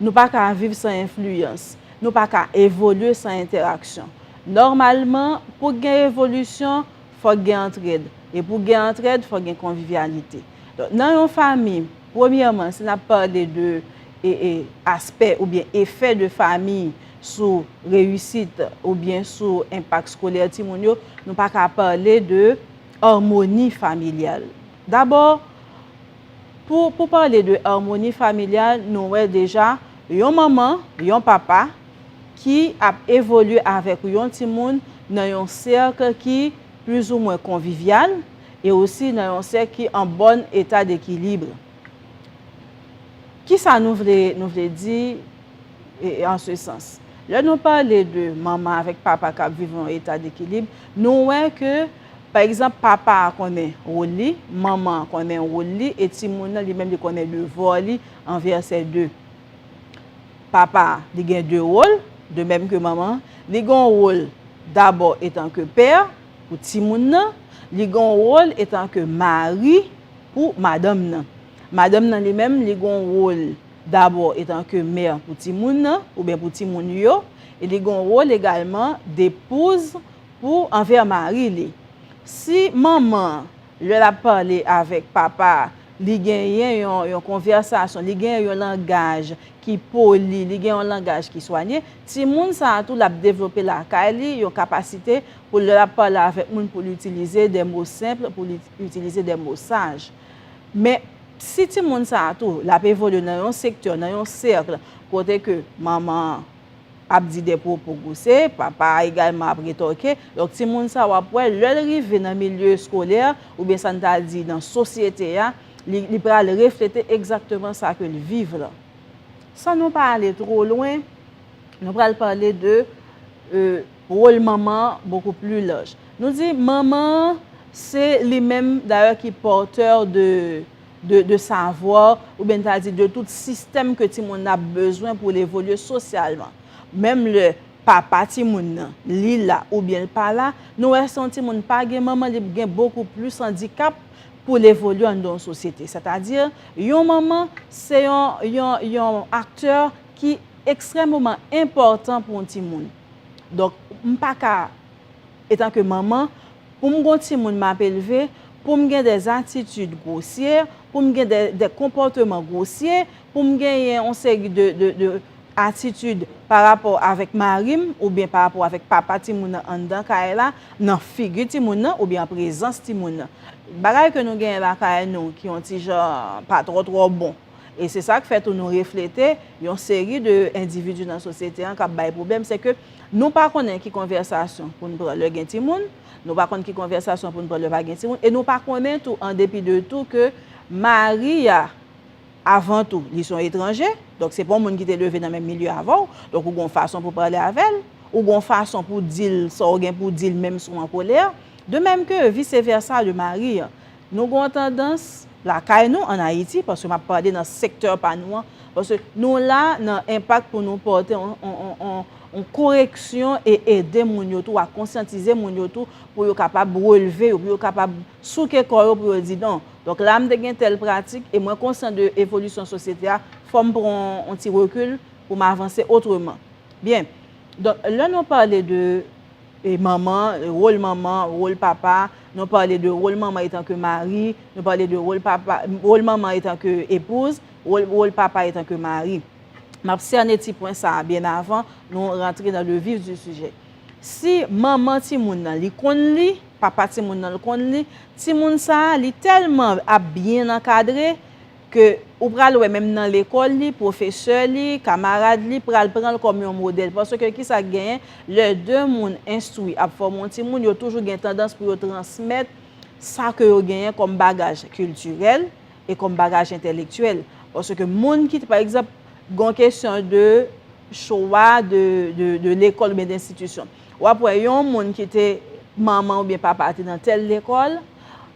Nou pa ka viv san enfliyans. Nou pa ka evolye san entèraksyon. Nòmalman, pou k gen evolisyon, fò k gen antrèd. E pou gen antrèd, fò gen konvivyalite. Donk, nan yon fami, premyèman, si n ap pale de aspè oubyen efè de fami sou reyisit oubyen sou enpak skolè timoun yo, nou pa ka pale de armoni familyal. Dabò. Pou pou pale de armoni familyal nou wè deja yon manman, yon papa ki ap evolye avèk yon timoun nan yon sèk ki plizoumwen konvivyal e osi nan yon sèk ki an bòn eta dekilibre. Kisa nou vle nou vle di an se sans? Lè nou pale de manman avèk papa k ap viv yon eta dekilibre, nou wè ke. Pa egzanp, papa a konnen wòl li, manman an konnen wòl li, e timoun nan li menm li konnen devwa li an vèsè 2. Papa a, li gen de wòl, de mèm ke manman an, li gen yon wòl dabò etanke pè pou timoun nan, li gen yon wòl etanke mari pou madanm nan. Madanm nan li menm li gen yon wòl dabò etanke mè pou timoun nan, ouben pou timoun yo, e li gen yon wòl egalman depouz, Pou anvè mari li. Si manman an, lè l ap pale avèk papa a, li genyen yon konvèsasyon, li genyen yon langaj ki poli, li gen yon langaj ki swanye, timoun sa a tou l ap devlope lakay li yon kapasite pou lè l ap pale avèk moun pou l itilize de mo senpl, pou l itilize de mo saj. Men, si timoun sa a tou, l ap evolye nan yon sektè, nan yon sèkl kote ke manman an, ap di de pwopo gousse, papa a egalman ap retòke, donk timoun sa w ap wè lè l rive nan milye eskolè oubyen sa n ta di nan sosyete a, li pral reflete egzakteman sa ke l viv lan. San nou pa ale two lwen, nou pral pale de wol manman an bokou pli laj. Nou di manman an se li menm dayè ki pòtè de. de savoir, ou byen ta di de tout sistèm ke timoun nan ap bezwen pou l evolye sosyalman. Menm lè papa timoun nan, li la ou byen l pa la, nou wè si yon timoun pa gen manman li p gen bokou plis andikap pou l evolye anndan yon sosyete. Sè ta di, yon manman se yon, yon, yon aktè ki ekstrèmeman enpòtan pou yon timoun. Donk, m pa ka. Etanke manman, pou m gon timoun m ap elve, pou m gen de atitid gwosye, pou m gen de konpòteman gwosye, pou m genyen on seri de atitid pa rapò avèk mari m oubyen pa rapò avèk papa timoun nan anndan kay la, nan figi timoun nan oubyen an prezans timoun nan. Bagay ke nou genyen lakay nou ki on ti jan pa twò twò bon. E se sa k fè tou nou reflete yon seri de endividi nan sosyete an k ap bay pwoblèm, se ke, Nou pa konnen ki konvèsasyon pou n pran lè gen timoun, nou pa konn ki konvèsasyon pou n pran lè pa gen timoun, e nou pa konnen tou an depi de tou ke mari a avan tou li se yon etranje, donk se pa yon moun ki te leve nan menm milye avè w, donk ou gen yon fason pou pale avè l, ou gen yon fason pou di l sa w gen pou di l menm si w an kolè, de menm ke vise vèsa le mari an. Nou gen yon tandans, lakay nou, an Ayiti, paske m ap pale nan sektè pa nou an, paske nou la nan enpak pou nou pòte yon koreksyon e ede moun yo tou a konsyantize moun yo tou pou yo kapab relve yo, pou yo kapab souke kò yo pou yo di non. Donk la m te gen tèl pratik e mwen konsyan de evolisyon sosyete a, fò m pran yon ti rekil pou m avanse otreman. Byen, donk lè nou pale de. E manman, wol manman, wol papa, nou pale de wol manman etan ke mari, nou pale de wol papa, wol manman etan ke epouz, wol, wol papa etan ke mari. M ap sène ti pwen sa a byen avan nou rantre nan le vif di sijè. Si manman timoun nan li konn li, papa timoun nan l konn li, timoun sa a li tèlman ap byen ankadre, Ke ou pral wè menm nan lekòl li, pwofesè li, kamarad li pral pran l kòm yon modèl. Paske ki sa k genyen, lè de moun enstwi ap fòme yon timoun, yo toujou gen tandans pou yo transmèt sa ke yo genyen kòm bagaj kiltirèl e kòm bagaj entèlektyèl. Paske moun ki, pa egzanp, gen yon kesyon de chwa de lekòl oubyen de enstitisyon. W ap wè yon moun ki te manman oubyen papa te nan tèl lekòl,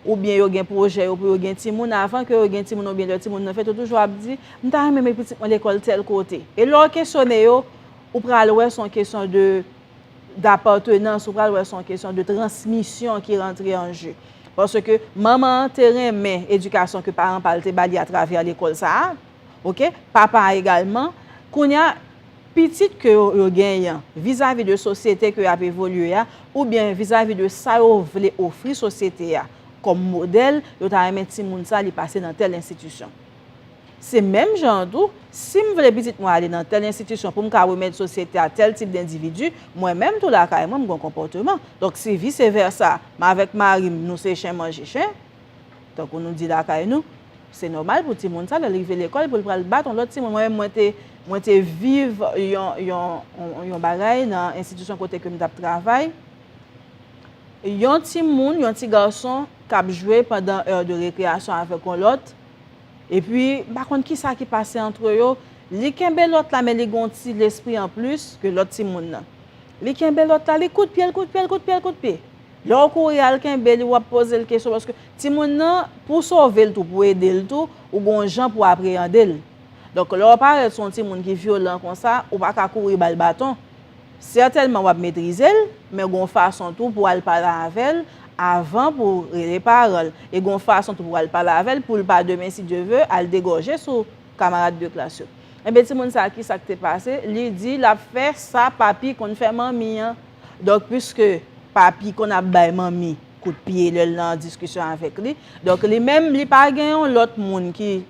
oubyen yo gen pwojè yo pou yo gen timoun, avan ke yo gen timoun oubyen lè timoun nan fèt, yo toujou ap di, m ta renmen met pitit mwen lekòl tèl kote. E lè w kesyone yo, ou pral wè se yon kesyon de dapatenans, ou pral wè se yon kesyon de transmisyon ki rantre an je. Paske manman an te renmen edikasyon ke paran pa l te ba li atravè lekòl sa a, Ok papa a egalman kounya pitit ke yo yo genyen vizavi de sosyete ke yap evolye a oubyen vizavi de sa yo vle ofri sosyete a kòm modèl yo ta renmen timoun sa li pase nan tèl enstitisyon se menm jan an tou sim vle pitit mwen ale nan tèl enstitisyon poum ka remèt sosyete a tèl tip dendividu mwen menm tou lakay mwen m gon konpòteman donk si vise vèsa m avèk marim nou se chen manje chen. Tankou nou di lakay nou, se nòmal pou timoun sa lè l rive lekòl pou l pral bat yon lòt timoun. Mwen menm mwen te viv yon bagay nan enstitisyon kote ke m t ap travay. Yon timoun, yon ti gason k ap jwe pandan èr de rekreyasyon avèk yon lòt, epi m pa konn ki sa ki pase antre yo, li kenbe lòt la men li gen yon ti lespri anplis ke lòt timoun nan. Li kenbe lòt la, li kout pye l, kout pye l, kout pye l, kout pye. Lè ou kouri al kenbe li, wap poze l kesyon paske timoun nan, pou w sove l tou, pou w ede l tou, ou gen yon jan pou w apreyande l. Donk, lè w parèt sou yon timoun ki vyolan konsa, ou pa ka kouri ba l baton. Sètènman wap metrize l, men gen yon fason tou pou w al pale avè l avan pou w rele paran l. E gen yon fason tou pou w al pale avè l pou l pa demen si Dye ve al degòje sou kamarad de klas yo. Enben timoun sa a kisa k te pase? Li di lap fè sa papi konn fè manmi an. Donk pwiske papi konn ap bay manmi kout pye lè l nan diskisyon avèk li, donk li menm li pa gen yon lòt moun ki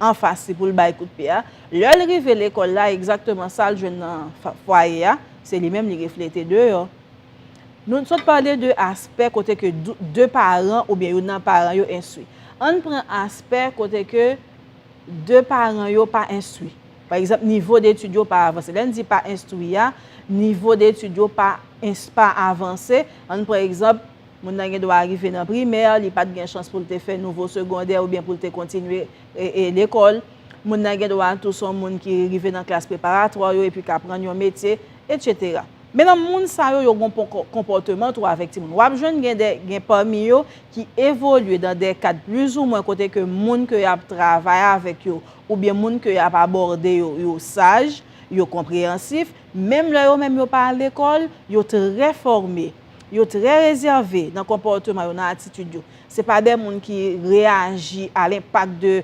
anfas li pou l bay kout pye a. Lè l rive lekòl la, egzakteman sa l jwenn nan fwaye a, se li menm li reflete deyò. Nou sot pale de aspè kote ke de paran oubyen youn nan paran yo enstwi. Ann pran aspè kote ke de paran yo pa enstwi. Pa egzanp, nivo detid yo pa avanse. Lè n di pa enstwi a, nivo detid yo pa ens pa avanse. An n pran egzanp, moun nan gen dwa rive nan primè, li pa t gen chans pou l te fè nouvo segondè oubyen pou l te kontinye lekòl. Moun nan gen dwa tou se yon moun ki rive nan klas preparatwa yo epi k aprann yon metye, etsetera. Men nan moun sa yo, yo gen yon konpòteman tou avèk timoun. W ap jwenn gen de gen pami yo ki evolye nan de kad plizoumwen kote ke moun ke y ap travay avèk yo oubyen moun ke y ap abòde yo, yo saj, yo konpreyansif, menm lè yo menm yo pa al lekòl, yo trè fòme, yo trè rezève nan konpòteman yo, nan atitid yo. Se pa de moun ki reyaji a lenpak de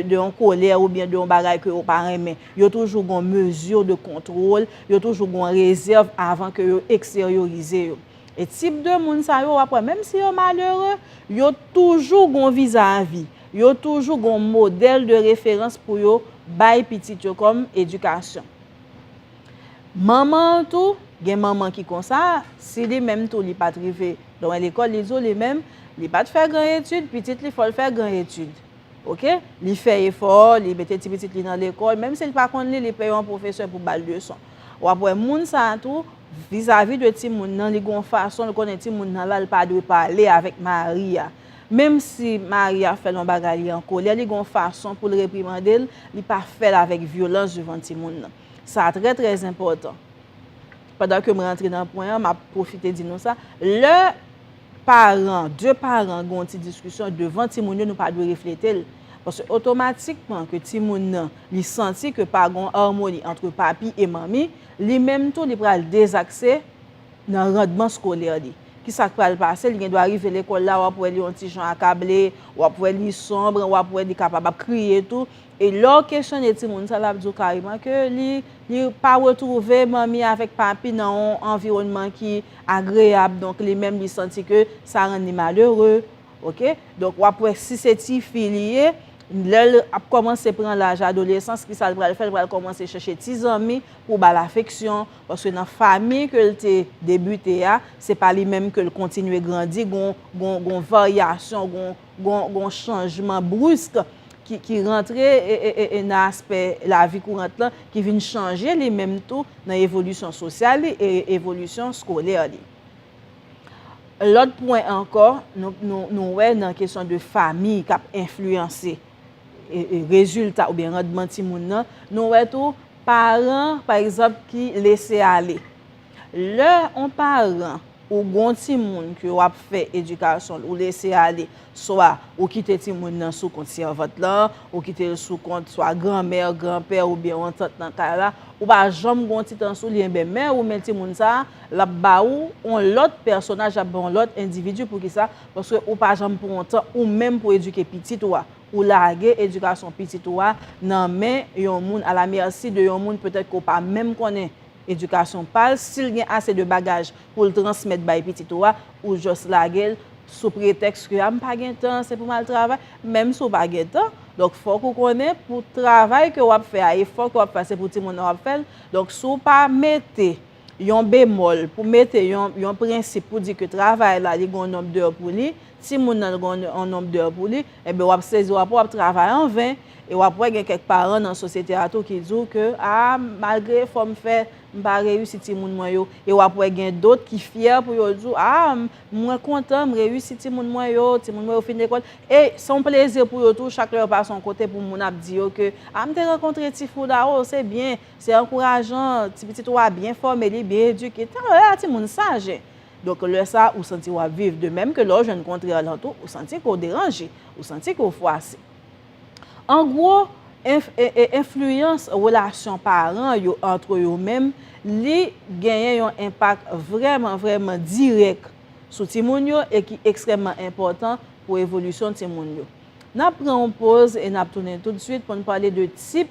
yon kolè oubyen de yon bagay ke yo pa renmen. Yo toujou gon mezi de kontwòl, yo toujou gon rezèv avan ke yo eksteryorize yo. E tip de moun sa yo wap wè menm si yo malere, yo toujou gon vizavi, yo toujou gon modèl de referans pou yo bay pitit yo kòm edikasyon. Manman an tou, gen manman ki konsa, si li menm tou li pat rive lwen lekòl, li di w li menm, li pat fè gran etid, pitit li fò l fè gran etid. Ok, li fè efò, li mete ti pitit li nan lekòl, menm si l pa konn li, li peye yon pwofesè pou ba l leson. Wap wè moun sa tou, Vizavi de timoun nan, li gen yon fason l konnen timoun nan la, l pa dwe pale avèk mari a. Menm si mari a fè l yon bagay li an kolè, li gen yon fason pou l reprimande l, li pa fè l avèk vyolans devan timoun nan. Sa a trè trè enpòtan. Pandan ke m rantre nan pwen an, m ap pwofite di nou sa, lè paran, de paran gen yon ti diskisyon devan timoun yo, nou pa dwe reflete l. Paske otomatikman ke timoun nan, li santi ke pa gen yon armoni antre papi e manmi, Li menm tou li pral dezakse nan randman skolè li. Ki sa k pral pase? Li gendwa rive lekòl la, w ap wè li yon ti jan akable, w ap wè li sonbre, w ap wè li kapab ap kriye tou. E lè w kesyone timoun sa, l ap di w kareman ke li li pa retwouve manmi avèk papi nan yon anviwònman ki agreyab. Donk li menm li santi ke sa rann li malere. Ok? Donk w ap wè si se tifi li ye. Lè l ap kòmanse pran laj adolesans, ki sa l pral fè? L pral kòmanse chèche ti zanmi pou ba l afeksyon, paske nan fami ke l te debite a, se pa li menm ke l kontinye grandi, gon varyasyon, gon chanjman brisk ki rantre nan aspè lavi kourant lan, ki vin chanje li menm tou nan evolisyon sosyal li e evolisyon skolè li. Lòt pwen ankò, nou wè nan kesyon de fami k ap enfliyanse rezilta oubyen randman timoun nan, nou wè tou paran pa egzanp ki lese ale. Lè yon paran ou gon timoun ke w ap fè edikasyon l, ou lese ale, swa ou kite timoun nan sou kont sèvant la, ou kite l sou kont swa granmè, granpè oubyen yon tant nan kay la, ou pa janm gon ti tan sou li, enben men ou men timoun sa a, Lap ba ou on lòt pèsonaj lap ba on lòt endividi poukisa paske ou pa janm pran tan ou menm pou edike pitit ou a ou lage edikasyon pitit ou a nan men yon moun a la mèsi de yon moun petèt ke w pa menm konnen edikasyon pa l si l gen ase de bagaj pou l transmèt bay pitit ou a ou jòs lage l sou pretèks ke a m pa gen tan se pou m al travay menm si w pa gen tan donk fòk ou konnen pou travay ke wap fè a efò ke wap fè a se pou timoun nan wap fè l donk si w pa mete yon bemòl, pou mete yon, yon prensip pou di ke travay la li gen yon nonb dè pou li, timoun nan gen yon nonb dè pou li, enben wap sezi wap wè wap travay an ven, e wap wè gen kèk paran nan sosyete a tou ki di w ke a malgre efò m fè, m pa reyisi timoun mwen yo, e wap wè gen dot ki fyè pou yo di w a mwen kontan m reyisi timoun mwen yo, timoun mwen yo fin lekòl, e se yon plezi pou yo tou chak lè yo pase yon kote pou moun ap di yo ke a m te rankontre Tifou la o se byen Se ankourajan, ti pitit ou a byen fòme, li byen edike, tan lè a timoun saj. Donk lè sa ou santi wap viv, de mèm ke lè ou jwenn kontrè lan tou, ou santi ke ou deranje, ou santi ke ou fwase. An gwo, enf, ee, enfliyans relasyon paran yo antre yo menm, li genyen yon enpak vrèman, vrèman dirèk sou timoun yo e ki ekstrèmman enpòtan pou evolisyon timoun yo. Nap pran yon poz e nap tounen tout swit poun pale de tip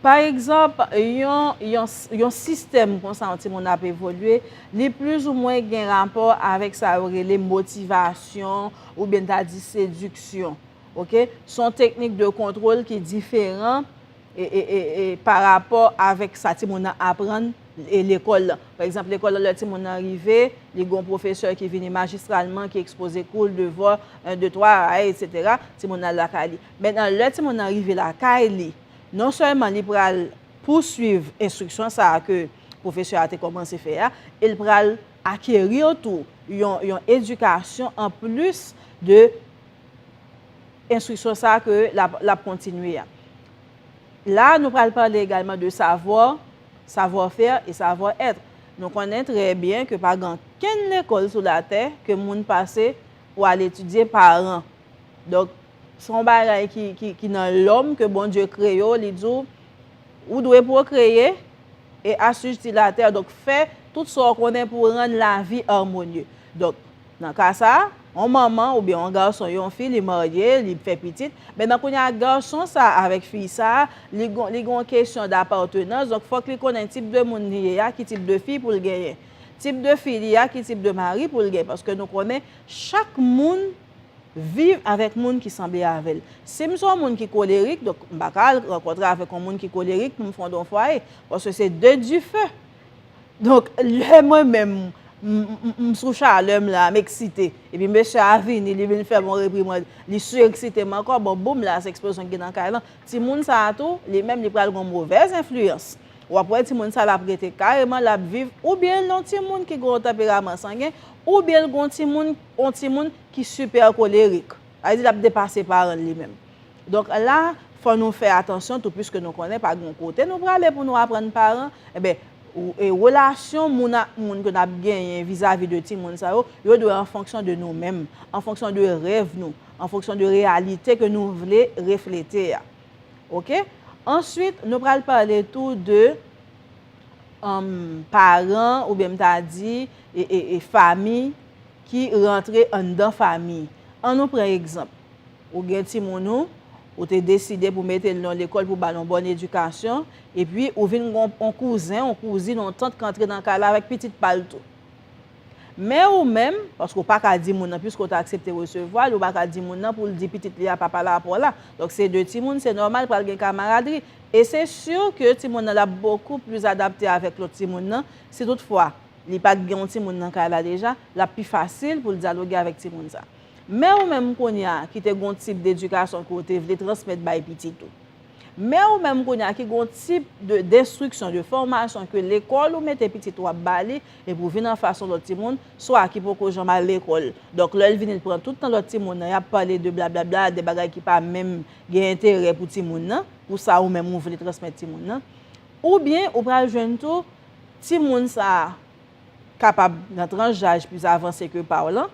Pa egzanp, yon yon sistèm konsa yon timoun ap evolye, li plis ou mwen gen rapò avèk sa yo rele motivasyon oubyen n ta di sediksyon. Ok, s on teknik de kontwol ki diferan pa rapò avèk sa timoun nan aprann e lekòl lan. Pa egzanp, lekòl lan lè timoun nan rive, li gen yon pwofesè ki vini majistralman, ki ekspoze kou l, devwa, en, de, twa, aayy, etsetera, timoun nan al lakay li. Mentnan lè timoun nan rive lakay li. Non sèlman li pral pouswiv enstriksyon sa a ke pwofesè a te kòmanse fè a, e l pral akerir tou yon edikasyon an plis de enstriksyon sa a ke l ap kontinye a. La a nou pral pale egalman de savoir, savoir faire et savoir être. Nou konnen trè byen ke pa gen ankenn lekòl sou latè ke moun pase pou al etidye paran. Donk, Se yon bagay ki nan lòm ke Bondye kreye w, li di w, ou dwe pwokreye e asijti latè, donk fè tout sa w konnen pou rann lavi armonye. Donk, nan ka sa, yon manman oubyen yon gason, yon fi li marye, li fè pitit, men nan kounye a gason sa avèk fi sa, li gon li gon yon kesyon dapartenans, donk fòk li konnen tip de moun li ye a ki tip de fi pou l genyen. Tip de fi li a ki tip de mari pou l genyen, paske nou konnen chak moun. Viv avèk moun ki sanble avè l. Si m se yon moun ki kolerik, donk m pa ka al rankontre avèk yon moun ki kolerik pou m fonde yon fwaye, paske se de dife. Donk, lè mwen menm m sou chalè m la, m eksite, epi mesye a vini, li vin fè m yon reprimand, li sireksite m ankò, bon boum la, se eksplozyon ki gen nan kay lan. Timoun sa a tou, li menm li pral gen yon movèz enfliyans. W ap wè timoun sa l ap rete kareman, l ap viv, oubyen l yon timoun ki gen yon tanperaman sangen, oubyen l gen yon timoun. On timoun ki super kolerik. Sa vle di lap depase paranl li menm. Donk la fò nou fè atansyon tou puiske nou konnen pa gon kote nou prale pou nou aprann paran enben relasyon moun ak moun ke nap genyen vizavi de timoun sa yo, yo dwe an fonksyon de nou menm, an fonksyon de rèv nou, an fonksyon de reyalite ke nou vle reflete a. Ok. Answit nou pral pale tou de paran oubyen m ta di famiy ki rantre anndan fami. An nou pran egzanp, ou gen timoun ou, ou te deside pou mete l nan yon lekòl pou ba l yon bòn edikasyon, epi ou vin gen yon kouzen, yon kouzin, yon tant k antre nan kay la avèk pitit pa l tou. Men ou menm, paske ou pa ka di moun nan, piske ou te aksepte resevwa l, ou pa ka di moun nan pou l di pitit li a pa pale a pa w la. Donk se de timoun, se nòmal pral gen kamaradri. E se sur ke timoun nan l ap bokou plis adapte avèk lòt timoun nan, si tout fwa. Li pa gen yon timoun nan kay la deja, l ap pi fasil pou l dyaloge avèk timoun sa. Men ou menm kounye a ki te gen yon tip dedikasyon ke w te vle transmèt bay pitit ou. Men ou menm kounye a ki gen yon tip de denstriksyon, de fòmasyon ke lekòl ou mete pitit ou ap ba li, epi ou vin anfas yon lòt timoun, swa ki poko janm al lekòl. Donk lè l vini l pran tout tan lòt timoun nan, y ap pale de blablabla, de bagay ki pa menm gen enterè pou timoun nan, pou sa ou menm ou vle transmèt timoun nan. Oubyen ou pral jwenn tou, Timoun sa a kapab nan tranch jaj plis avanse ke pa w lan,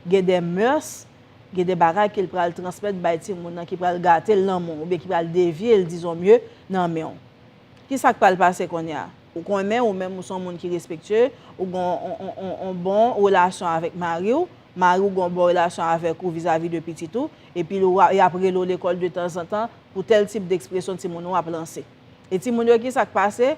gen de mœurs, gen de bagay ke l pral transmèt bay timoun nan ki pral gate l nan men w, oubyen ki pral devye l dizon mye nan men w. Kisa k pral pase kounye a? Ou konnen ou menm ou s on moun ki respektye, ou gen on bon relasyon avèk mari w, mari w gen on bon relasyon avèk ou vizavi de pitit ou, epi y ap rele w lekòl de tanzantan pou tèl tip dekspresyon timoun ou ap lanse. E timoun yo kisa k pase?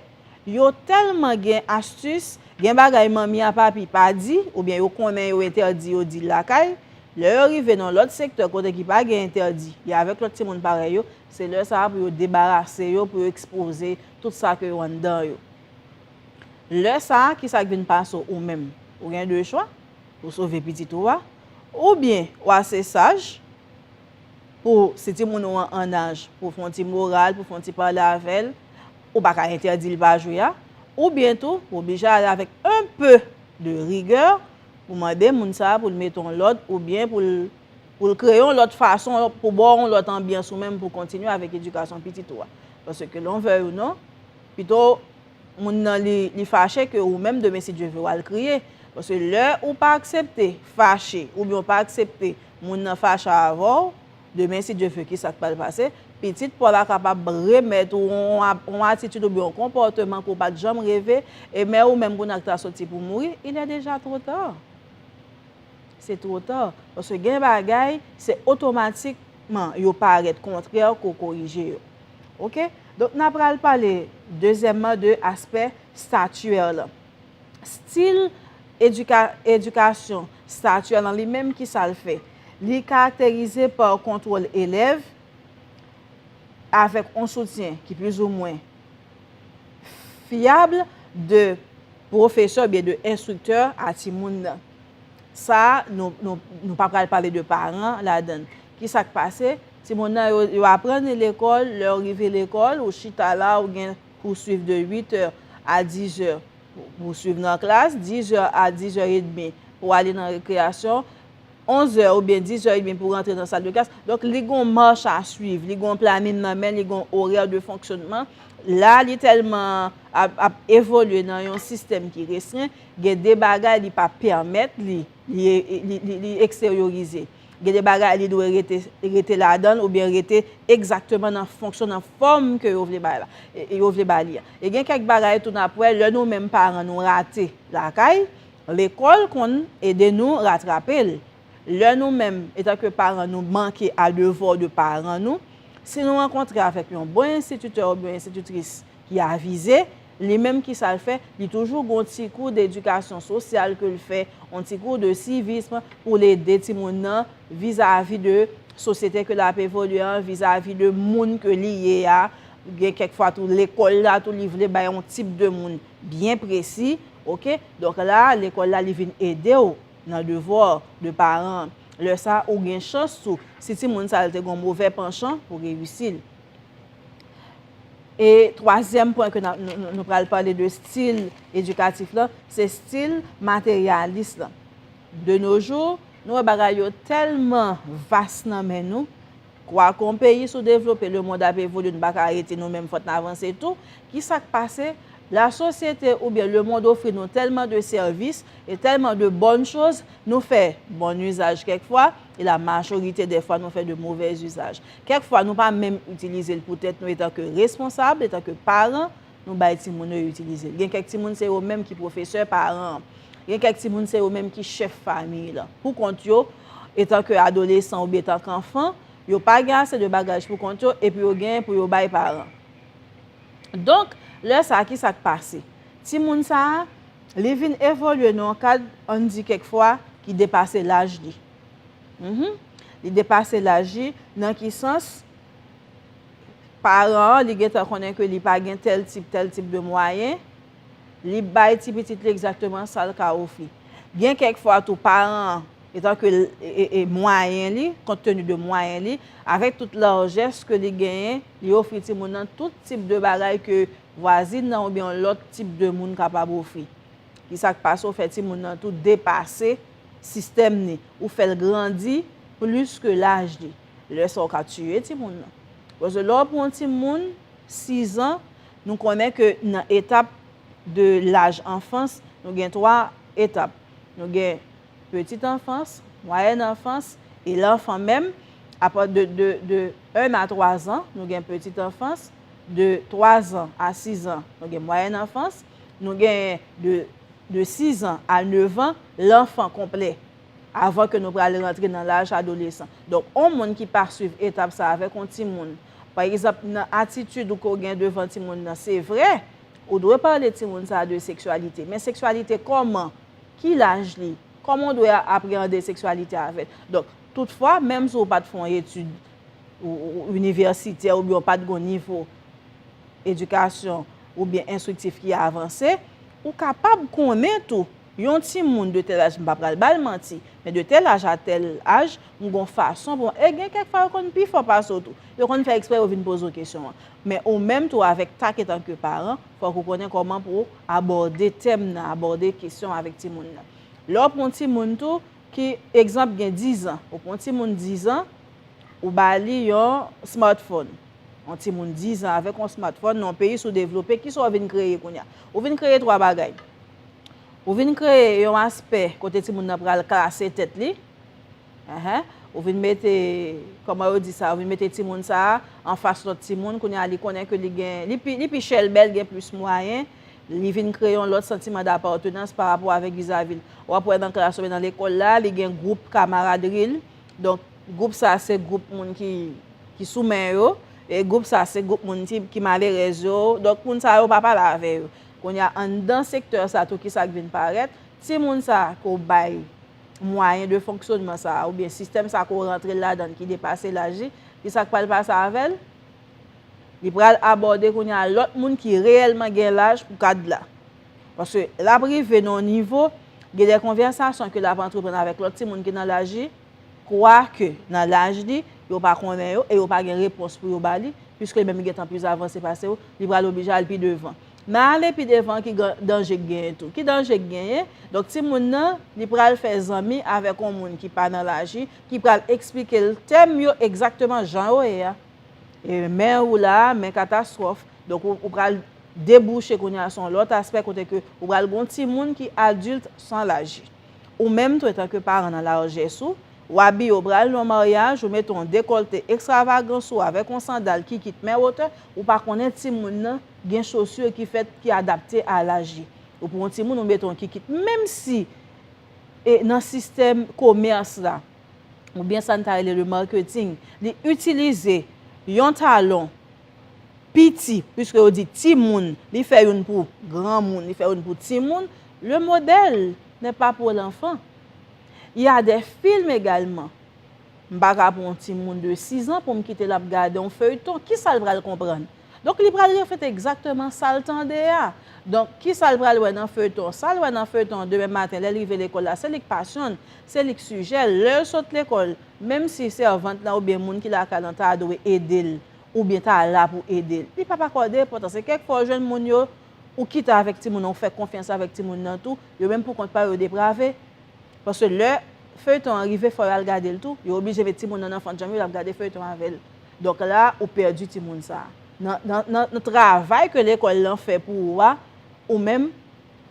Yo tèlman gen astis, gen bagay manmi a papi pa di, oubyen yo konnen yo entèdi yo di l lakay, lè yo rive nan lòt sektè kote ki pa gen entèdi, yo avèk lòt timoun parèy yo, se lè sa a pou yo debarase yo, pou yo ekspoze tout sa ke yo anndan yo. Lè sa a, kisa k vin pase w ou menm? Ou gen 2 chwa, ou sove pitit ou a, oubyen ou ase saj, Pou si timoun ou an annaj pou w fè yon ti moral, pou w fè yon ti pale avè l, ou pa ka entèdi l pa jwe a. Oubyen tou, ou oblije ale avèk un peu de rigueur pou mande moun sa a pou l mete yon lòd oubyen pou l pou l kreye yon lòt fason pou ba w yon lòt anbyans ou menm pou w kontinye avèk edikasyon pitit ou a. Paske ke lè w vèy ou non, pito moun nan li li fache ke ou menm demen si Dye ve w al kriye. Paske lè ou pa aksepte fache oubyen ou pa aksepte Moun nan fache avèw, demen si Dye ve kisa k pral pase, pitit paw la kapab remèt ou yon atitid oubyen yon konpòteman ke w pat janm reve, e men ou menm kounye a ki ta soti pou mouri, il est déjà trop tard. Se two ta, paske gen bagay se otomatikman yo parèt kontrè ke w korije yo. Ok, donk na pral pale dezyèmman de aspè statuaire lan. Stil edikasyon stati a nan li menm ki sa l fè? Li karakterize pa kontwòl elèv avèk yon soutyen ki plizoumwen fyab de pwofesè oubyen de enstriktè a timoun nan. Sa a, nou pa pral pale de paran ladan l. Ki sa k pase? Timoun nan yo aprann lekòl, lè yo rive lekòl, ou chita la ou gen. Ou swiv de 8 è a 10 è pou swiv nan klas, 10 è a 10 è edmi pou ale nan rekreyasyon, 11 è oubyen 10 è edmi pou rantre nan sal de klas. Donk li gon mach a swiv, li gon planin nan men, li gon orè de fonksyonman. La li tèlman ap evolye nan yon sistèm ki restren, gen de bagay li pa pèmèt li, li eksteryorize. Gen de bagay li dwe rete, rete ladann oubyen rete egzakteman nan fonksyon, nan fòm ke yo vle bay la, yo vle ba li a. E gen kèk bagay tou n'ap wè lè nou menm paran nou rate lakay, lekòl konn ede nou ratrape l. Lè nou menm etanke paran nou manke a devò de paran nou, si nou rankontre avèk yon bon enstititè oubyen yon enstititris ki avize, Li menm ki sa l fè? Li toujou gon ti kou d'edikasyon sosyal ke l fè, on ti kou de civisme pou l ede timoun nan vizavi de sosyete ke l ap evolye an, vizavi de moun ke li ye a, gen kèk fwa tou lekòl la tou li vle bay on tip de moun byen presi, ok. Donk la a lekòl la li vin ede w nan devwa w de paran. Lè sa a ou gen chans tou si timoun sa l te gon move panchan pou reyisi l. E twazyèm pwen ke nou pral pale de stil edikatif lan, se stil materyalis lan. De no jou, nou wè bagay yo tèlman vas nan men nou, kwa kon peyi sou devlope, le mond ap evolye, nou pa ka rete nou menm, fòk nou avanse tou, ki sa k pase, la sosyete ou byen le mond ofri nou tèlman de sèvis e tèlman de bòn choz, nou fè bòn uzaj kèk fwa, E la majorite dè fwa nou fè de movè izaj. Kèk fwa nou pa menm itilize l pou tèt nou etan ke responsab, etan ke paran, nou bay timoun yo itilize l. Gen kèk timoun se yo menm ki pwofesè paran an. Gen kèk timoun se yo menm ki chèf famiy lan. Pou kont yo, etan ke adolesan oubyen etan ke anfan, yo pa gen ase de bagaj pou kont yo epi yo genyen pou yo bay paran. Donk, lè sa a ki sa k pase? Timoun sa a, Li vin evolye nan yon kad, an n di kèk fwa, ki depase laj li. Li depase laj li nan ki sans? Paran an, li gen tan konnen ke li pa gen tèl tip, tèl tip de mwayen, li bay ti pitit li egzakteman sa l ka ofri. Gen kèk fwa tou, paran an, etan ke mwayen li, kont teni de mwayen li, avèk tout larjès ke li genyen, li ofri timoun nan tout tip de bagay ke vwazin nan oubyen yon lòt tip de moun kapab ofri. Ki sa k pase ou fè timoun nan tou depase sistèm ni, ou fè l grandi plis ke laj li. Lè sa ou ka tiye timoun nan. Koz lè ou pran yon timoun sizan, nou konnen ke nan etap de laj anfans, nou gen 3 etap. Nou gen petit enfance, moyèn anfans e lanfan menm. Apa de 1 a 3 zan, nou gen petit enfance. de 3 zan a 6 zan, nou gen mwayèn anfans, nou genyen de de 6 zan a 9 zan, lanfan konplè, avan ke nou prale rantre nan laj adolesan. Donk, on moun ki pa swiv etap sa avèk on timoun, pa egzanp, nan atitid ou ke w gen devan timoun nan, se vre, ou dwe pale timoun sa de seksyalite, men seksyalite kòman? Ki laj li? Kòman w dwe apreyande seksyalite avè l? Donk, toutfwa, menm si w pa t fè on etid inivèsitè oubyen ou pat gon nivo edikasyon oubyen enstriktif ki avanse, ou kapab konnen tou yon timoun de tèl aj, m pa pral ba l manti, men de tèl aj a tèl aj, m gon fason pou m, e gen kèk fwa yo konn pi fò pase w tou. Yo konn fè eksprè yo vin poze w kesyon an. Men ou menm tou avèk tak etanke paran, fòk ou konnen kòman pou w abòde tèm nan, abòde kesyon avèk timoun nan. Lè w pran yon timoun tou, Ki egzanp gen dizan. Ou pran yon timoun dizan, ou ba li yon smartphone. Yon timoun dizan avèk yon smartphone nan yon peyi soudevlope, kisa ou vin kreye kounye a? Ou vin kreye twa bagay. Ou vin kreye yon aspè kote timoun nan pral klase tèt li. Ou vin mete, kòman yo di sa, ou vin mete timoun sa a anfas lòt timoun. Kounye a li konnen ke li gen, li pi chèlbè, li gen plis mwayen. Li vin kreye yon lòt santiman dapartenans pa rapò avèk vizavi l. W ap wè nan klas oubyen nan lekòl la, li gen gwoup kamaradri l. Donk, gwoup sa a se gwoup moun ki sou men yo. E gwoup sa a se gwoup moun ki malerèz yo. Donk, moun sa yo pa pale avè yo. Kounye a, anndan sektè sa tou ki sa k vin parèt? Timoun sa a ke w bay mwayen de fonksyònman sa a oubyen sistèm sa a ke w rantre l ladan l ki depase laj li, ki sa k pral pase avè l? Li pral abòde kounye a lòt moun ki reyèlman gen laj pou kad la. Paske l ap rive nan yon nivo, gen de konvèsasyon ke l ap antreprann avèk lòt timoun ki nan laj li, kwake nan laj li, yo pa konnen yo e yo pa gen repons pou yo ba li, piske li menm li gen tan plis avanse pase yo, li pral oblije al pi devan. Nan ale pi devan an ki danje k genyen tou? Ki danje k genyen? Donk timoun nan, li pral fè zanmi avèk yon moun ki pa nan laj li, ki pral eksplike l tèm yo egzakteman jan yo ye a. E men ou la a, men katastwòf. Donk ou pral debouche kounye a sou yon lòt aspè kote ke ou pral gen yon timoun ki adilt san laji. Ou menm tou etanke paran nan lajès ou, ou abiye ou pral nan yon maryaj, ou mete yon dekòlte ekstravagan sou ou avèk yon sandal ki kit men wotè, ou pa konnen timoun nan gen chosur ki fèt ki adapte a laj li. Ou pran yon timoun ou mete yon kikit menm si nan sistèm komèrs la, ou byen sa n ta rele le marketing, li itilize yon talon piti, pwiske yo di ti moun, li fè youn pou gran moun, li fè youn pou ti moun, le modèl nè pa pou lanfan. Y a dè film egalman, m pa ka pran yon ti moun de 6 an pou m kite l ap gade yon feyton, ki sa l pral konprann? Donk li pral reflete egzakteman sa l tande a. Donk, ki sa l pral wè nan feyton? Sa l wè nan feyton an demen maten lè l rive lekòl la, se li k pasyon l, se li k sijè l. Lè l sot lekòl, menm si sèvant lan oubyen moun ki lakay lan ta dwe ede l oubyen ta la pou ede l, li pap akòde enpòtans. E kèk fwa ou jwenn moun yo, ou kite avèk timoun an, ou fè konfyans avèk timoun nan tou, yo menm pou kont pa yo, yo deprave. Paske lè feyton an rive fò y al gade l tou, yo oblije met timoun nan nan fannjanm yo, y ap gade feyton avè l. Donk la ou pèdi timoun sa. Nan travay ke lekòl lan fè pou ou a, ou menm,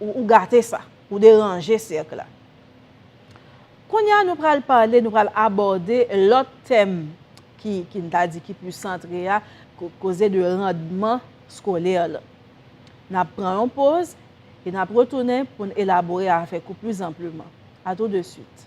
ou gate sa. Ou deranje sèk la. Kounye a nou pral pale, nou pral abòde lòt tèm ki, ki m ta di ki plis santre a, koze de randman skolè lan. N ap pran yon poz, e n ap retounen pou n elabore avèk ou plis anpleman. A tou de swit.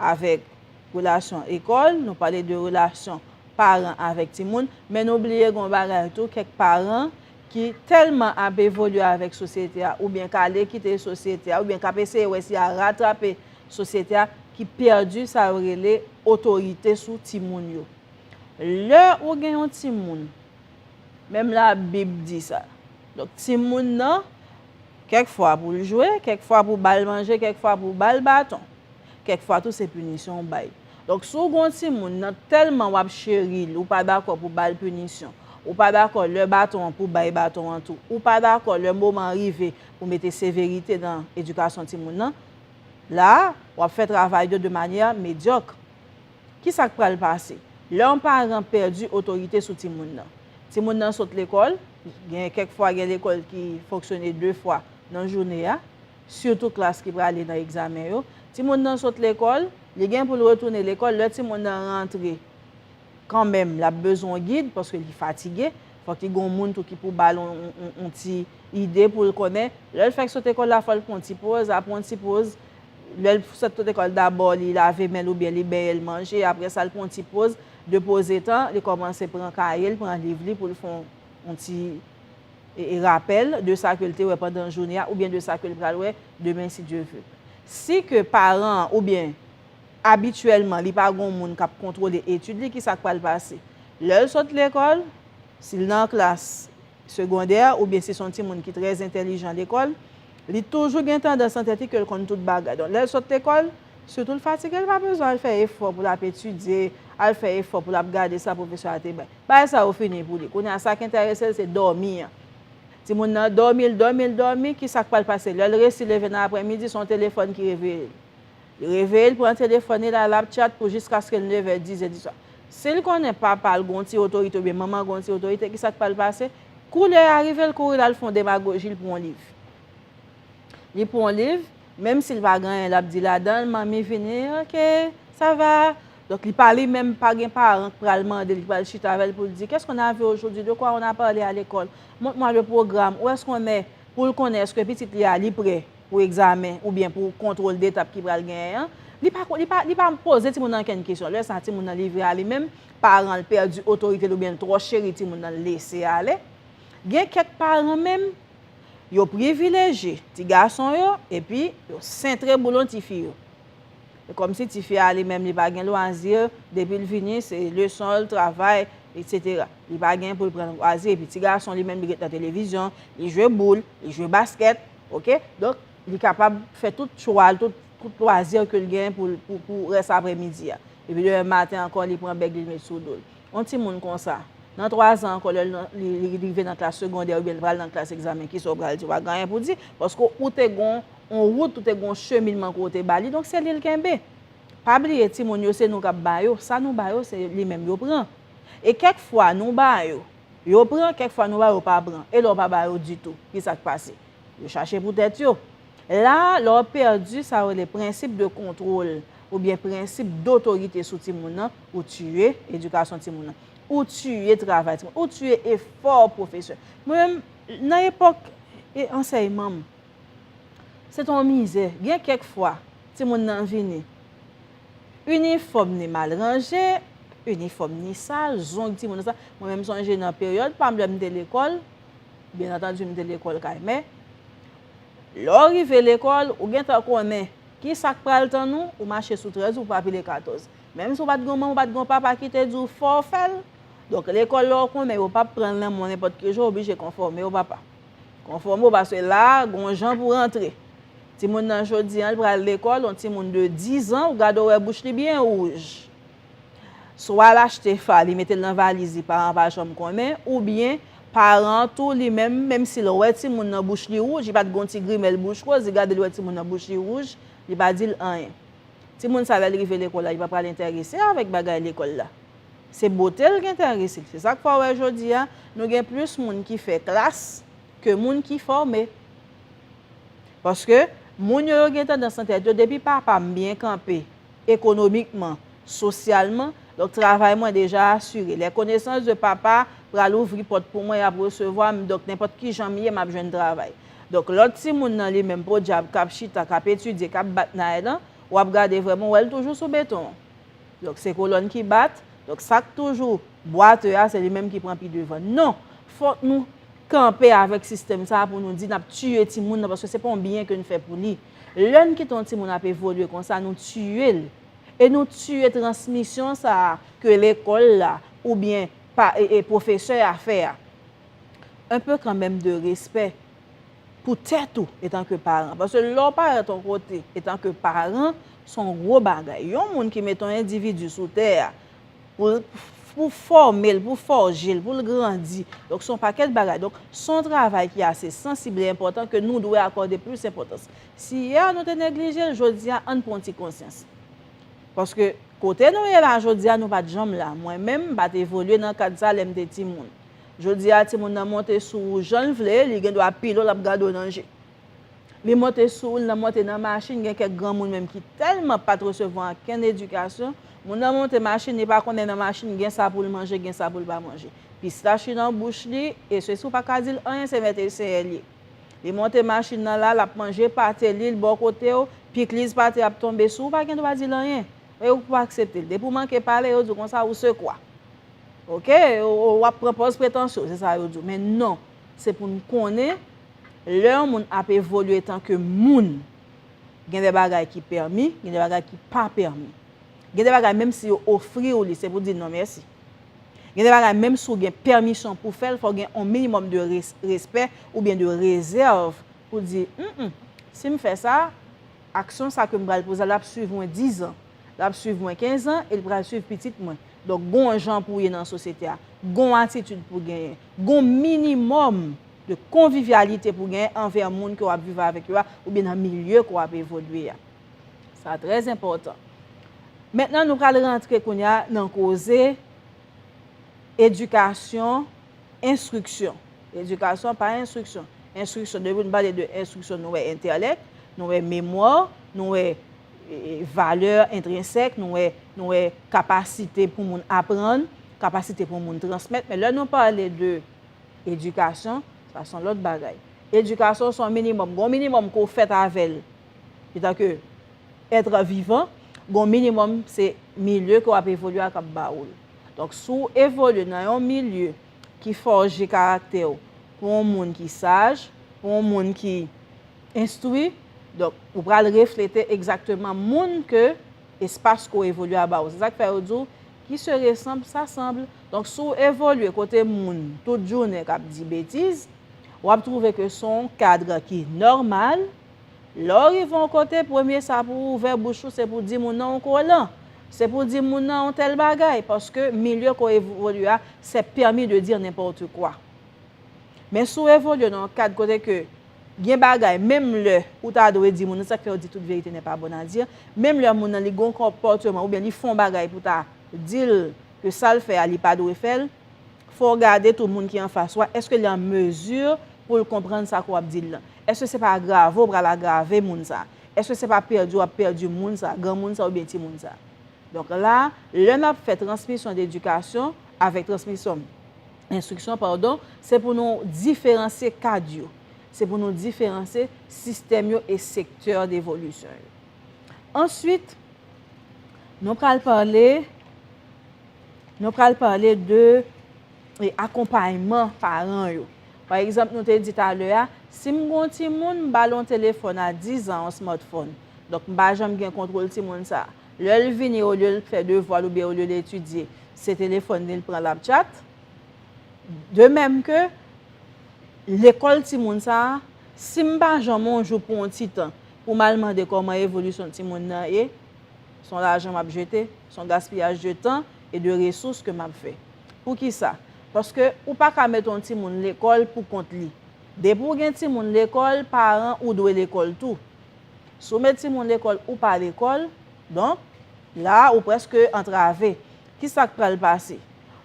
avèk relasyon ekòl, nou pale de relasyon paran avèk timoun, men nou bliye gen yon bagay tou, kèk paran ki tèlman ap evolye avèk sosyete a oubyen k ale kite sosyete a oubyen k ap eseye wè si y a ratrape sosyete a ki pèdi sa yo rele otorite sou timoun yo. Lè ou gen yon timoun, menm labib di sa, donk timoun nan kèk fwa pou l jwe, kèk fwa pou ba l manje, kèk fwa pou ba l baton. Kèk fwa tou se pinisyon ou bay. Donk si w gen yon timoun nan tèlman w ap cheri l ou pa dakò pou w ba l pinisyon, ou pa dakò lè baton an pou w bay baton an tou, ou pa dakò lè moman an rive pou w mete severite nan edikasyon timoun nan, la a, w ap fè travay yo de manyè medyòk. Ki sa k pral pase? Lè yon paran pèdi otorite sou timoun nan. Timoun nan sot lekòl, gen kèk fwa gen lekòl ki fonksyone de fwa nan joune a, sitou klas ki prale nan egzamen yo, timoun nan sot lekòl, li gen pou l retounen lekòl, lè timoun nan rantre, kanmenm l ap bezwen yon gid paske li fatige, fòk li gen yon moun tou ki pou ba l yon ti ide pou l konnen, lè l fèk sot ekòl la fò l pran yon ti poz, apre yon ti poz, lè l sot sot ekòl dabò li lave men l oubyen li benyen l manje, apre sa l pran yon ti poz, depozetan li kòmanse pran kaye l, pran liv li pou l fè yon ti. rapèl de sa ke l te wè pandan jounen an oubyen de sa ke l pral wè demen si Dye ve. Si ke paran an oubyen abityèlman li pa gon moun k ap kontwole etid li, kisa k pral pase? Lè l sot lekòl, si l nan klas segondè oubyen si s on timoun ki trè entèlijan lekòl, li toujou gen tandans nan tèt li ke l konn tout bagay. Donk, lè l sot lekòl, sitou l fatige, li pa bezwen al fè efò pou l ap etidye, al fè efò pou l ap gade sa pwofesè a te bay. Bagay sa yo fini pou li. Kounye a sa k enterese l se dòmi an. Timoun nan dòmi, l dòmi, l dòmi, ki sa k pral pase lè l resi leve nan aprèmidi? Se yon telefòn ki reveye l. Li reveye, l pran telefòn li la, l ap tchat pou jiskaske l nevè, dizè diswa. Si l konnen papa l gen yon ti otorite oubyen manman l gen yon ti otorite, ki sa k pral pase? Kou lè a rive, l kouri l al fè yon demagoji, l pran yon liv. Li pran yon liv, menm si l pa gen anyen l ap di ladan l, Manmi vini, ok, sa va? Donk li pa li menm, pa gen paran k pral mande l, k pral chita avè l pou l di, Qu'est-ce qu'on a vu aujourd'hui? De quoi on a parlé à l'école? Montre-moi le programme. Où est-ce qu'on est? Pou l konnen èske pitit li a li pre pou egzamen oubyen pou kontwol detap ki pral genyen an. Li pa li pa li pa poze timoun nan ankenn kesyon. Lè sa a, timoun nan livre a li menm, paran l pèdi otorite l oubyen l twò cheri timoun nan l lese ale. Gen kèk paran menm, yo privilejye ti gason yo epi yo sentre boulon tifi yo. E kòmsi tifi a li menm li pa gen lwazi, depi l vini se leson l, travay, etsetera. Li pa gen pou l pran lwazi. Epi ti gason li menm li ret nan televizyon, li jwe boul, li jwe baskèt. Ok? Donk, li kapab fè tout chwa l, tout lwazi ke l gen pou pou rès aprè midi a. Epi demen maten ankò li pran bèg li l met sou do l. Yon timoun konsa, nan twazan ankò lè li rive nan klas segondè oubyen li pral nan klas egzamen kisa w pral di? W pa gen anyen pou w di paske ou te gon On rout ou te gen on cheminman ke w te ba li, donk se li l kenbe. Pa bliye timoun yo se nou k ap ba yo, sa nou ba yo se li menm yo pran. E kèk fwa nou ba yo, yo pran, kèk fwa nou ba yo pa pran. E lè w pa ba yo ditou, ki sa k pase? Yo chache pou tèt yo. La a, lè w ap pèdi sa yo rele prensip de kontwol oubyen prensip dotorite sou timoun nan, ou tiye edikasyon timoun nan. Ou tiye travay timoun nan. Ou tiye efò pwofesè. Mwen menm, nan epòk ansèyman m, Se ton mizè. Gen kèk fwa, timoun nan vini. Inifòm ni mal ranje, inifòm ni sal, zong timoun nan sa. Mwen menm m sonje nan peryòd pa m lè m te lekòl, byennantandi m te lekòl kay mè, lè w rive lekòl, ou gen tan konnen ki sa k pral tann ou, ou mache sou trèz ou pou pa pile katòz. Menm si w pa t gen yon manman, w pa t gen yon papa ki te di w fò w fè l. Donk lekòl la ou konnen yo p ap pran l nan men w nenpòt ki jan, w oblije konfòme w papa. Konfòme w paske la a gon jan pou rantre. Timoun nan jodi an li pral lekòl, yon timoun de 10 an ou gade w wè bouch li byen wouj. Swa l achte fa li mete l nan valiz li paran pa janm konnen oubyen paran an tou li menm menm si l wè timoun nan bouch li wouj li pa t gon ti grimèl bouch woz li gade l wè timoun nan bouch li wouj li pa di l anyen. Timoun sa lè l rive lekòl la li pa pral entèrese avèk bagay lekòl la. Se bote l gen tan risit. Se sa k fè w wè jodi a, nou gen plis moun ki fè klas ke moun ki fòme. Paske, moun yo yo gen tandans nan tèt yo, depi papa m byen kanpe ekonomikman, sosyalman, donk travay mwen deja asire. Les connaissances de papa pral ouvri pòt pou mwen, y ap resevwa m, donk nenpòt ki jan m ye, m ap jwenn travay. Donk lòt timoun nan li menm, podyab, k ap chita, k ap etidye, k ap bat nay lan, w ap gade vrèman, w wè l toujou sou beton an. Donk se kolòn ki bat, donk sa k toujou bwatè a se li menm ki pran pi devan. Non! Fòk nou kanpe avèk sistèm sa a pou nou di n ap tiye timoun nan paske se pa yon byen ke n fè pou li. Lè n kite yon timoun ap evolye konsa nou tiye l. E nou tiye transmisyon sa a ke lekòl la oubyen pa e e pwofesè a fè a. Un peu kanmenm de respè. pou tèt ou etan ke paran. Paske lè w parèt yon kote etan ke paran, se yon gwo bagay. Yon moun ki mete yon endividi sou tè a, pou fòme l, pou fòje l, pou l grandi. Donk se yon pakèt bagay. Donk se yon travay ki ase sansib e enpòtan ke nou dwe akòde plis enpòtans. Si yè a nou te neglije l, jodi a ann pran ti konsyans. Paske kote nou ye la jodi a nou pa t janm la. Mwen menm m pa t evolye nan kad sa lè m te timoun. Jodi a timoun nan monte sou ou jan l vle, li gen dwa pile w l ap gade w nan je. Li monte sou ou, l nan monte nan machin, gen kèk granmoun menm ki tèlman pa t resevwa ankenn edikasyon, moun nan monte machin li pa konnen nan machin gen sa pou l manje, gen sa pou l pa manje. Pistach li nan bouch li, e se si w pa ka di l anyen se mèt e senyè l ye. Li monte machin nan la, l ap manje pate li, l bò kote w, pikliz pate ap tonbe sou ou pa gen dwa di l anyen. E ou pa aksepte l. Depi ou manke pale, yo di w konsa, ou se kwa? Ok, w ap pran pòz pretansye w, se sa yo di w. Men non, se pou n konnen, lè yon moun ap evolye etan ke moun, gen de bagay ki pèmi, gen de bagay ki pa pèmi. Gen de bagay menm si yo ofri w li, se pou di non mèsi. Gen de bagay menm si w gen pèmisyon pou w fè l, fò w gen yon minimòm de respè oubyen de rezèv pou w di, m m, si m fè sa, Aksyon sa ke m pral poze la, l ap swiv mwen dizan, l ap swiv mwen kenzan e l pral swiv pitit mwen. Donk, gon w jan pou w ye nan sosyete a, gon w atitid pou w genyen, gon w minimòm de konvivyalite pou w genyen anvè moun ke w ap viv avèk yo a oubyen nan milye ke w ap evolye a. Sa trè enpòtan. Mentnan nou pral rantre kounye a nan koze edikasyon Enstriksyon. Edikasyon pa enstriksyon. Enstriksyon, depi nou pale de enstriksyon nou wè entèlèk, nou wè memwa, nou wè valè entrensèk, nou wè nou wè kapasite pou moun aprann, kapasite pou moun transmèt. Men lè nou pale de edikasyon, sa son lòt bagay. Edikasyon son minimòm. Gon minimòm ke w fèt avè l etan ke ètre vivan, gon minimòm se milye ke w ap evolye a k ap ba ou l. Donk si w evolye nan yon milye ki fòje karaktè w pou yon moun ki saj, pou yon moun ki enstwi, donk ou pral reflete egzakteman moun ke espas ke w evolye a ba w. Se sa k fè yo di w, Qui se ressemble, s'assemble. Donk si w evolye kote moun tout jounen k ap di betiz, w ap twouve ke se yon kadre ki nòmal, Lè w rive yon kote, premye sa pou w ouvè bouch ou se pou w di moun nan ou kolan. Se pou w di moun nan yon tèl bagay, paske milye ke w evolye a, c'est permis de dire n'importe quoi. Men si w evolye nan yon kad kote ke gen bagay, menm lè ou ta dwe di moun nan, se sa ki fè yo di toute vérité n'est pas bonne à dire, menm lè moun nan li gen yon konpòteman oubyen li fè yon bagay pou w ta di l ke sa l fè a li pa dwe fè l, fò w gade tou moun ki anfas ou a, èske li an mezi pou l konprann sa ke w ap di l lan? Èske se pa agrave w pral agrave moun sa? Èske se pa pèdi w ap pèdi moun sa, granmoun sa oubyen timoun sa? Donk la, lè n ap fè transmisyon de edikasyon avèk transmisyon enstriksyon padon, se pou nou diferansye kad yo, se pou nou diferansye sistèm yo e sektè devolisyon yo. Answit, nou pral pale. Nou pral pale de akonpayman paran yo. Pa egzanp nou te di talè a, si m gon timoun, m ba l yon telefòn a 10 zan, yon smartphone. Donk m pa janm gen kontwol timoun sa. Lè l vini olye l fè devwa l oubyen olye l etidye, se telefòn li l pran l ap tchat. De mèm ke lekòl timoun sa, si m pa janm yon jou pou yon ti tan pou m al mande kòman evolisyon timoun nan ye, Son lajan map jete, son gaspiyaj de tan e de resous ke map fè. Poukisa? Paske ou pa ka mete yon timoun lekòl pou kont li. Depi ou gen timoun lekòl, paran ou dwe lekòl tou. Si w met timoun lekòl ou pa lekòl, donk, la a ou prèske antrave. Kisa k pral pase?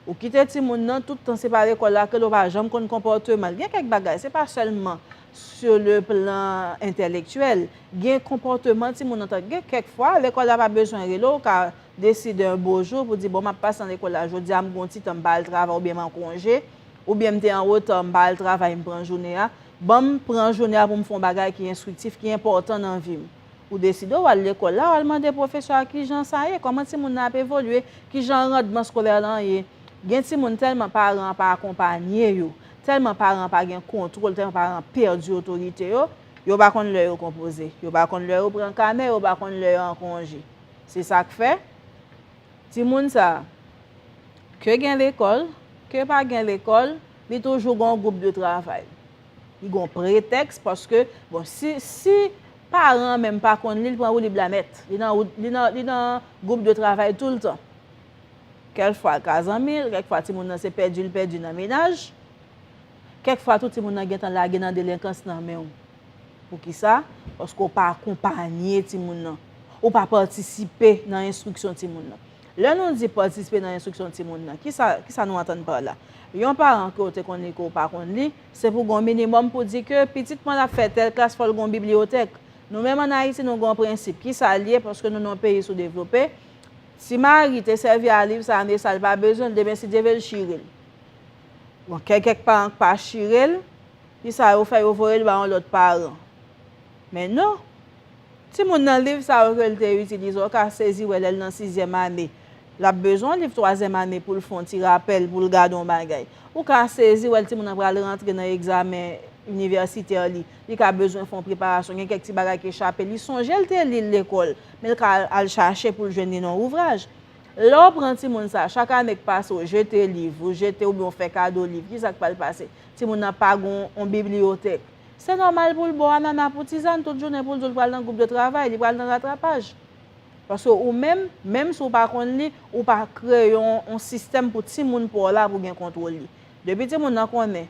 Ou kite timoun nan tout tan se pa lekòl la ke l ou pa janm konn konpòteman l. Gen kèk bagay, se pa sèlman Sou le plan entèlektyèl, gen konpòteman timoun an tank gen kèk fwa lekòl la pa bezwen rele w, ou ka deside yon bo jou pou di bon m ap pase nan lekòl la jodi a m gen yon ti tan m pa al travay oubyen m an konje, oubyen m te an reta m pa al travay m pran jounen an, ban m pran jounen an pou m fè yon bagay ki enstriktif, ki enpòtan nan vi m. Ou deside w al lekòl la, w al mande pwofesè a kijan sa ye, kòman timoun nan ap evolye, kijan randman skolè lan ye. Gen timoun tèlman paran an pa akonpanye yo, Tèlman paran an pa gen kontwòl, tèlman paran an pèdi otorite yo, yo pa konn lè yo konpoze, yo pa konn lè yo pran kanè, yo pa konn lè yo an konje. Se sa k fè, timoun sa a, ke gen lekòl, ke pa gen lekòl, li toujou gen yon gwoup de travay. Li gen yon pretèks paske, bon, si paran an menm pa konn li, li pran woulib la nèt. Li nan gwoup de travay toultan. Kèl fwa l ka zanmi l, kèk fwa timoun nan se pèdi l pèdi nan menaj. Kèk fwa tou timoun nan gentan lage nan delenkans nan men w. Poukisa? Paske w pa akonpanye timoun nan. Ou pa patisipe nan enstriksyon timoun nan. Lè nou di patisipe nan enstriksyon timoun nan, kisa, kisa nou antann pa la? Yon paran ke w te konn li ke w pa konn li, se pou gen yon minimòm pou di ke pitit mwen ap fè tèl klas fò l gen yon bibliyotèk. Nou menm an Ayiti nou gen yon prensip. Kisa l ye? Paske nou nan yon peyi soudevlope. Si Mari te sèvi a liv sa ane sa li pa bezwen l demen si Dye vle l chire l. Bon kè kèk paran k pa chire l kisa yo fè yo voye l ba yon lòt paran. Men non timoun nan liv sa yo ke l te itilize ou ka sezi wè lè l nan sizyèm ane l ap bezwen yon liv twazyèm ane pou l fè yon ti rapèl pou l gade yon bagay. Ou ka sezi wè l timoun nan pral rantre nan egzamen inivèsitè li li ka bezwen fè yon preparasyon gen kèk ti bagay ki chape li sonje l te li l lekòl Men l ka al chache pou l jwenn li nan ouvraj. Lè w pran timoun sa a, chak ane k pase w jete liv, ou jete oubyen w fè kado liv, ki sa k pral pase? Timoun nan pa gen yon bibliyotèk. Se nòmal pou l bo anana pou tizann tout jounen pou l di w li pral nan gwoup de travay, li pral nan ratrapaj. Paske ou menm, menm si w pa konn li, ou pa kreye yon sistèm pou timoun pa w la pou gen kontwòl li. Depi timoun nan konnen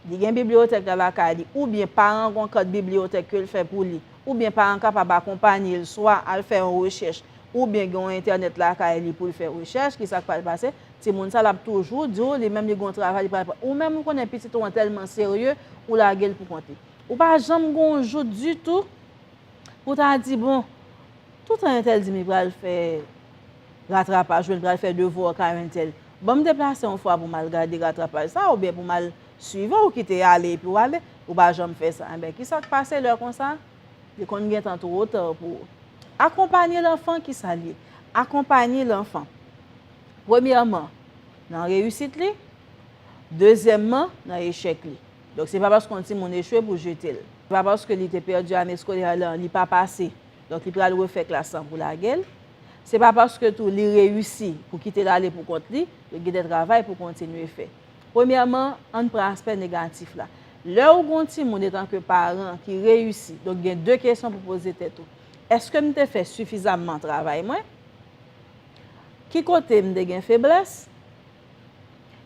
Li gen bibliyotèk la lakay li oubyen paran an gon kant bibliyotèk ke l fè pou li, oubyen paran an kapab akonpanye l swa al fè yon rechèch oubyen gen yon entènèt lakay li pou l fè rechèch, kisa k pral pase? Timoun sa l ap toujou di w li menm li gen yon travay li pral pran. Ou menm ou konnen pitit ou an tèlman serye, ou lage l pou kont li. Ou pa janm gen yon jou ditou pou w ta di bon, Toutan yon tel di m li pral fè ratrapaj oubyen li pral fè devwa kay yon tel, ban m deplase yon fwa pou m al gade ratrapaj sa a oubyen pou m al swive w ki te ale epi w ale, ou pa janm fè sa. Enben, ki sa k pase lè konsa? Li konn gen tan twò ta pou ou. Akonpanye lanfan ki sa l ye? Akonpanye lanfan, premyèman, nan reyisit li, dezyèmman, nan echèk li. Donk, se pa paske yon timoun echwe pou w jete l. Se pa paske li te pèdi ane eskolè a li pa pase. Donk li pral refè klas lan pou lage l. Se pa paske tou li reyisi pou kite l ale pou kont li, yo gen de travay pou kontinye fè. Premyèman, an n pran aspè negatif la. Lè ou gen yon timoun etanke paran ki reyisi, donk gen de kesyon pou poze tèt ou, Èske m te fè sifizamman travay mwen? Ki kote m te gen feblès?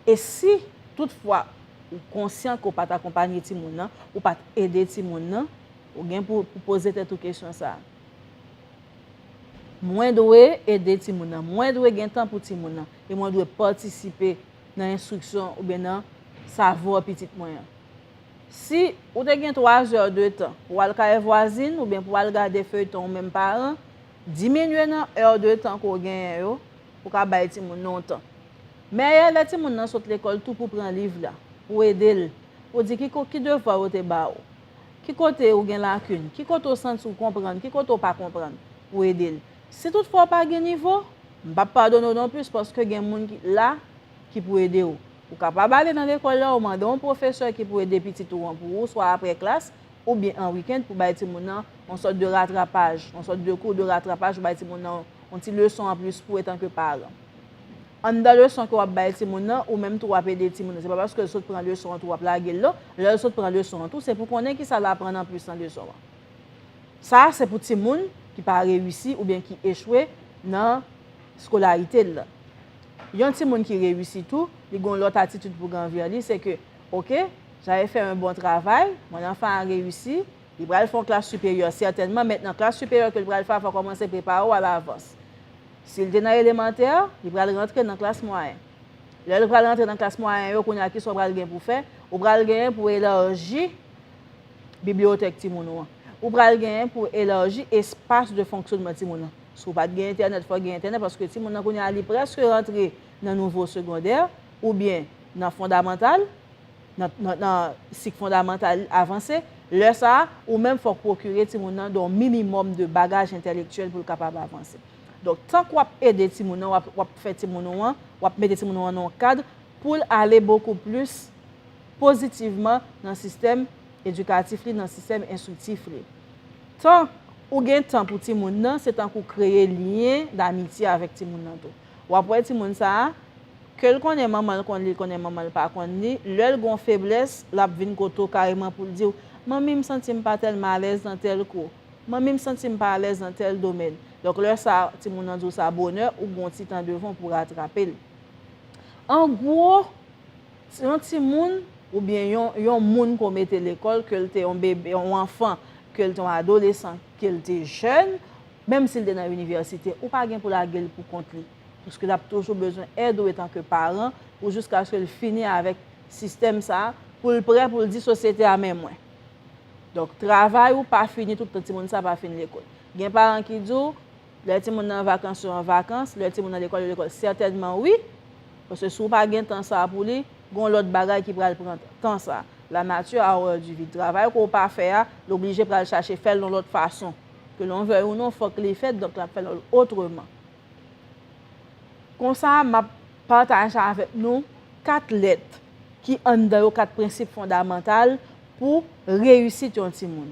E si tout fwa ou konsyan ke w pa t akonpanye timoun nan, ou pa t ede timoun nan, ou gen pou w poze tèt ou kesyon sa a, Mwen dwe ede timoun nan, mwen dwe gen tan pou timoun nan, e mwen dwe patisipe nan enstriksyon oubyen nan savo pitit mwen an? Si ou te gen 3 zè de tan pou w al kay vwazin oubyen pou w al gade feyton ou menm paran, diminye nan è de tan ke w genyen yo, pou ka bay timoun nan yon tan. Mèyè lè timoun nan sot lekòl tou pou pran liv la, pou ede l, pou di ki ki devwa yo te ba ou, ki kote ou gen lakin, ki kote ou santi ou konprann, ki kote ou pa konprann, pou ede l. Si tout fwa ou pa gen nivo, m p ap padone w non plis paske gen moun ki la ki pou ede ou. Ou kapab ale nan lekòl la, ou mande yon pwofesè ki pou ede pitit ou an pou ou swa aprè klas, oubyen an weekend pou bay timoun nan yon sòt de ratrapaj, yon sòt de kou de ratrapaj pou bay timoun nan yon ti leson an plis pou etan ke paran. Anndan leson ke wap bay timoun nan, ou menm tou wap ede timoun nan. Se pa paske l sot pran leson an tou wap lage l non. Lè l sot pran leson an tou, se pou konnen kisa l aprann an plis nan leson an. Sa se pou timoun ki pa reyisi oubyen ki echwe nan skolarite l lan. Yon timoun ki reyisi tou, li gen yon lòt atitid pou gen anvè li, se ke Ok jave fè yn bon travay mon enfant a reyisi li pral fè yon klas siperyè sètènman mèt nan klas siperyè kel pral fè a fò kòmanse prepare w alavans sil te nan elemantè li pral rantre nan klas mwayen lèl pral rantre nan klas mwayen yo kounya kisa w pral gen pou fè ou pral gen pou elarji bibliyotèk timoun ou an ou pral gen pou elarji espas de fonksyonman timoun nan si w pat gen entènèt fò gen entènèt paske timoun nan kounya li prèske rantre nan nouvo segondè oubyen. nan fondamantal, nan nan sik fondamantal avanse, lè sa a, ou menm fòk pwokire timoun nan de yon minimòm de bagaj entèlektyèl pou l kapab avanse. Donk, tank w ap ede timoun nan, w ap w ap fè timoun ou an, w ap mete timoun ou an nan yon kad pou l ale bokou plis pozitivman nan sistèm edikatif li, nan sistèm enstriktif li. Tan ou gen tan pou timoun nan, se tank ou kreye lyen damitye avèk timoun nan tou. Wap wè timoun sa a, kel konnen manmanl konn li konnen manmanl pa konn li, lèl gon feblès lap vin kote w kareman poul diw, manmi m santim pa tèlman alèz nan tèl kou, manmi m santim pa alèz nan tèl domèn, donk lè sa a timoun nan diw sa bonè ou gon ti tan devan w pou ratrapel. An gwo, yon timoun oubyen yon yon moun ke w mete lekòl kel te yon bebe yon anfan kel te yon adolesan, ke l te jèn, menm si l te nan inivèsite, ou pa gen pou lage l pou kont li. Paske l ap toujou bezwen èd ou etanke paran pou jiskaske l fini avèk sistèm sa a, pou l prè pou l di sosyete a men mwen. Donk, travay ou pa fini tout tan timoun sa a pa fin lekòl. Gen paran ki di w, lè timoun nan an vakans yo an vakans, lè timoun nan lekòl yo lekòl. Sètènman wi, paske si w pa gen tan sa a pou li, Gon lòt bagay ki pral pran tan sa. La nature a horreur du vide. Travay ke w pa fè a, l oblije pral chache fè l yon lòt fason. Ke l'on veuille ou non, fòk li fèt, donk l'ap fè l otreman. Konsa, m'ap pataje avèk nou 4 lèt ki anndan yo 4 prensip fondamantal pou reyisit yon timoun.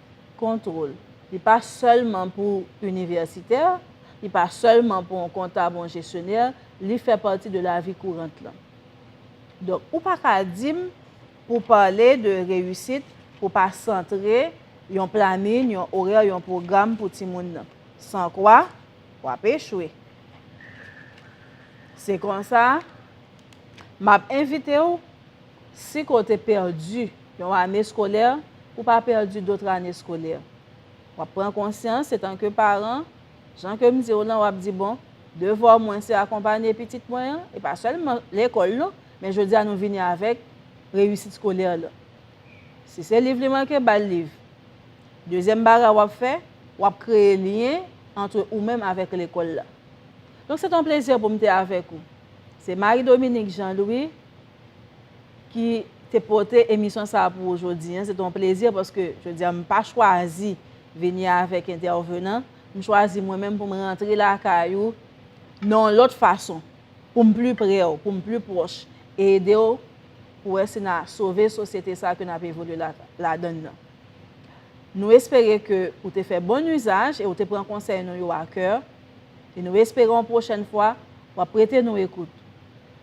Kontwol. Li pa sèlman pou inivèsitè, li pa sèlman pou yon kontab ou yon jesyonè, li fè pati de lavi kourant lan. Donk, ou pa ka di m pou pale de reyisit pou pa santre yon planin, yon orè, yon pwogram pou timoun nan. San kwa, w ap echwe. Se konsa, m ap envite w. Si ke w te pèdi yon ane skolè, ou pa pèdi dotre ane skolè. W ap pran konsyans etanke paran, jan ke m di w lan, w ap di bon, devwa mwen se akonpanye pitit mwen an, e pa sèlman lekòl non, men jodi a nou vini avèk reyisit skolè lan. Si se liv li manke, ba l liv. Dezyèm bagay w ap fè, w ap kreye lyen antre ou menm avèk lekòl la. Donk se te yon plezi pou m te avèk ou. Se Marie Dominique Jean Louis. ki te pote emisyon sa pou ou jodi. Se ton plezi paske jodi a m pa chwazi vini avèk entèvenan. M chwazi mwen menm pou m rantre la kay ou nan yon lòt fason. Pou m pli pre ou, pou m pli pwòch e ede ou pou wè si na sove sosyete sa ke nap evolye ladann nan. Nou espere ke ou te fè bon usaj e ou te pran konsèy nou yo a kè e nou espere yon pwochèn fwa wap prete nou ekout.